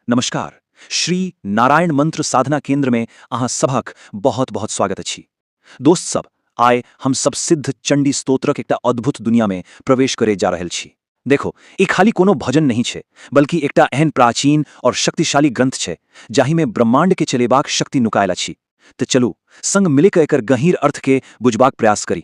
नमस्कार, श्री नारायण मंत्र साधना केंद्र में अहां सबहक बहुत-बहुत स्वागत अछि। दोस्त सब, आय हम सब सिद्ध चंडी स्तोत्रक एकटा अद्भुत दुनिया में प्रवेश करे जा रहल छी। देखो, ई खाली कोनो भजन नहि छै, बल्कि एकटा एहन प्राचीन और शक्तिशाली ग्रंथ छै, जाहि में ब्रह्मांड के चलेबाक शक्ति नुकायल अछि। त चलू, संग मिलिक एकर गहींर अर्थ के बुझबाक प्रयास करी।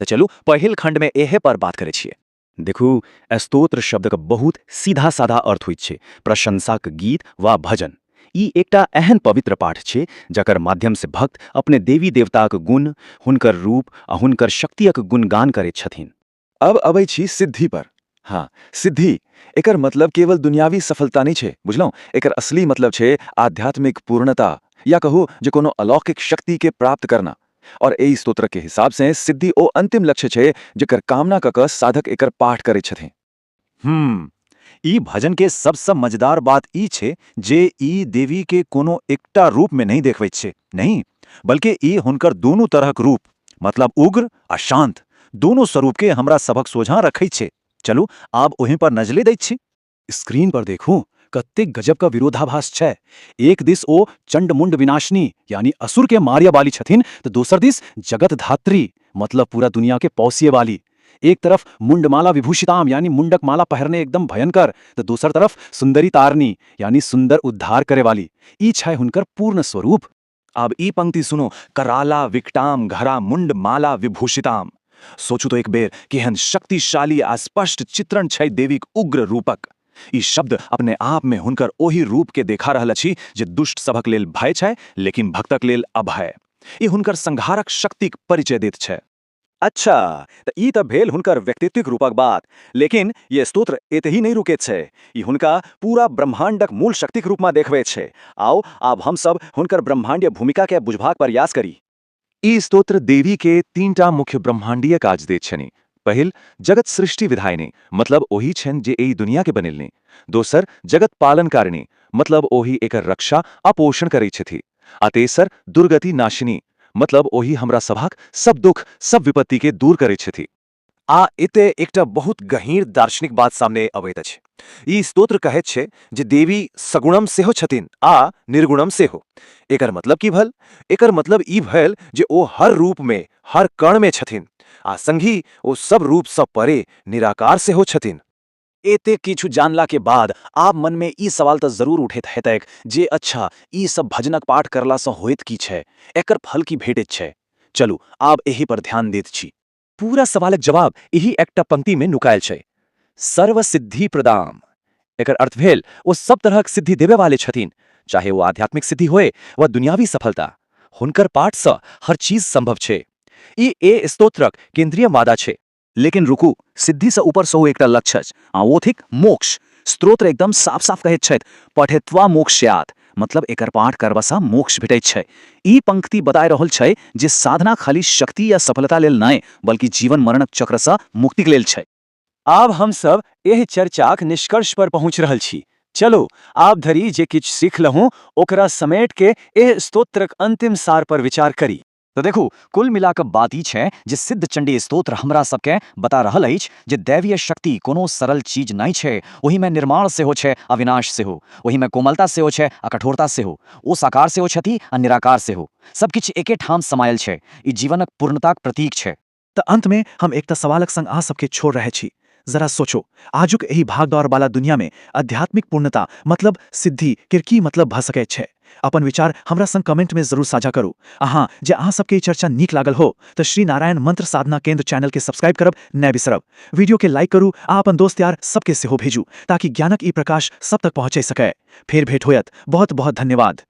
त चलू पहिल खंड मे एहे पर बात करै छियै। देखू, स्तोत्र शब्दक बहुत सीधा-साधा अर्थ होइत छै प्रशंसाक गीत वा भजन। ई एकटा एहन पवित्र पाठ छै जकर माध्यम से भक्त अपने देवी-देवताक गुण, हुनकर रूप आ हुनकर शक्तियक गुणगान करैत छथिन। अब अबै छी सिद्धि पर। हँ, सिद्धि, एकर मतलब केवल दुनियावी सफलता नै छै, बुझलहुँ। एकर असली मतलब छै आध्यात्मिक पूर्णता, या कहू जे कोनो अलौकिक शक्ति के प्राप्त करना। और एइ स्तोत्र के हिसाब सें सिद्धि ओ अंतिम लक्ष्य छै जेकर कामना क क साधक एकर पाठ करैत छथिं। हूं। ई भजन के सब स मजेदार बात ई छै जे ई देवी के कोनो एकटा रूप में नहि देखबैत छै, नहि, बल्कि ई हुनकर दूनू तरहक रूप, मतलब उग्र आ शांत, दूनू स्वरूप के हमरा सभक सोझां रखैत छै। चलू आब ओहि पर नजलि दैत छी। स्क्रीन पर देखू कतेक गजब क विरोधाभास छै। एक दिस ओ चण्ड-मुण्ड विनाशिनी यानि असुर केँ मारय बाली छथिन त दोसर दिस जगत धात्री मतलब पूरा दुनिया केँ पौसिय बाली। एक तरफ मुण्डमाला विभूषिताम् यानि मुण्डक माला पहिरने एकदम भयंकर त दोसर तरफ सुन्दरी तारणी यानि सुन्दर उद्धार करय वाली। ई छै हुनकर पूर्ण स्वरूप। आब ई पंक्ति सुनो, कराला विकटां घरा मुंड माला विभूषितां। सोचू त एक बेर, केहन शक्तिशाली आ स्पष्ट चित्रण छै देवीक उग्र रूपक। ई शब्द अपने आप मे हुनकर ओहि रूप केँ देखा रहल अछि जे दुष्ट सभक लेल भय छै लेकिन भक्तक लेल अभय। ई हुनकर संहारक शक्तिक परिचय दैत छै। अच्छा, त ई त भेल हुनकर व्यक्तित्विक रूपक बात। लेकिन ये स्तोत्र एतहि नहि रुकेत छै। ई हुनका पूरा ब्रह्माण्डक मूल शक्तिक रूपमा देखबैत छै। आउ, आब हम सब हुनकर ब्रह्माण्डीय भूमिका केँ बुझबाक परयास करी। ई स्तोत्र देवी केँ तीन टा मुख्य ब्रह्माण्डीय काज दैत छनि। पहिल, जगत सृष्टि विधायिनी, मतलब ओहि छनि जे एहि दुनिया केँ बनेलनि। दोसर, जगत पालनकारिणी, मतलब ओहि एकर रक्षा आ पोषण करैत छथि। आ तेसर दुर्गति नाशिनी मतलब ओहि हमरा सभक सब दुःख, सब विपत्तिकेँ दूर करैत छथि। आ एतय एकटा बहुत गहींर दार्शनिक बात सामने अबैत अछि। ई स्तोत्र कहैत छै जे देवी सगुणम सेहो छथिन आ निर्गुणम सेहो। एकर मतलब की भल? एकर मतलब ई भयल जे ओ हर रूपमे, हर कणमे छथिन। आ संगहि ओ सब रूपसँ परे निराकार सेहो छथिन। एते किछु जानला के बाद आब मन में ई सवाल त जरूर उठैत हेतैक जे अच्छा ई सब भजनक पाठ करला सँ होइत की छै? एकर फल की भेटैत छै? चलू आब एहि पर ध्यान दैत छी। पूरा सवालक जवाब एहि एकटा पंक्ति में नुकायल छै, सर्व सिद्धि प्रदाम। एकर अर्थ भेल ओ सब तरहक सिद्धि देबय वाले छथिन, चाहे ओ आध्यात्मिक सिद्धि होय वा दुनियावी सफलता। हुनकर पाठ सँ हर चीज संभव छै। ई ए स्तोत्रक केन्द्रीय मादा छै। लेकिन रुकू, सिद्धिसँ ऊपर सेहो एकटा लक्ष्य अछि, आ ओ थिक मोक्ष। स्तोत्र एकदम साफ-साफ कहैत छथि, पठित्वा मोक्ष्यात्, मतलब एकर पाठ करबासँ मोक्ष भेटैत छै। ई पंक्ति बताए रहल छै जे साधना खाली शक्ति या सफलता लेल नहि, बल्कि जीवन-मरणक चक्रसँ मुक्तिक लेल छै। आब हम सभ एहि चर्चाक निष्कर्ष पर पहुँच रहल छी। चलू, आब धरि जे किछु सिखलहुँ, ओकरा समेट कए एहि स्तोत्रक अंतिम सार पर विचार करी। त देखू, कुल मिला क बात ई छै जे सिद्ध चण्डी स्तोत्र हमरा सब केँ बता रहल अछि जे दैवीय शक्ति कोनो सरल चीज नहि छै। ओहि मे निर्माण सेहो छै आ विनाश सेहो। ओहि मे कोमलता सेहो छै आ कठोरता सेहो। ओ साकार सेहो छथि आ निराकार सेहो। सब किछु एके ठाम समायल छै। ई जीवनक पूर्णताक प्रतीक छै। त अंत मे हम एकटा सवालक संग अहाँ सबके छोड़ रहै छी। जरा सोचो, आजुक एहि भागदौड़ बाला दुनिया मे अध्यात्मिक पूर्णता मतलब सिद्धि केर की मतलब भ सकैत छै? अपन विचार हमरा संग कमेंट मे जरूर साझा करू। अहाँ जँ अहाँ सबके ई चर्चा नीक लागल हो त श्री नारायण मंत्र साधना केंद्र चैनल के सब्सक्राइब करब नै बिसरब। वीडियो के लाइक करू आ अपन दोस्त यार सबके सेहो भेजू ताकि ज्ञानक ई प्रकाश सब तक पहुँचै सकै। फेर भेट होयत। बहुत बहुत धन्यवाद।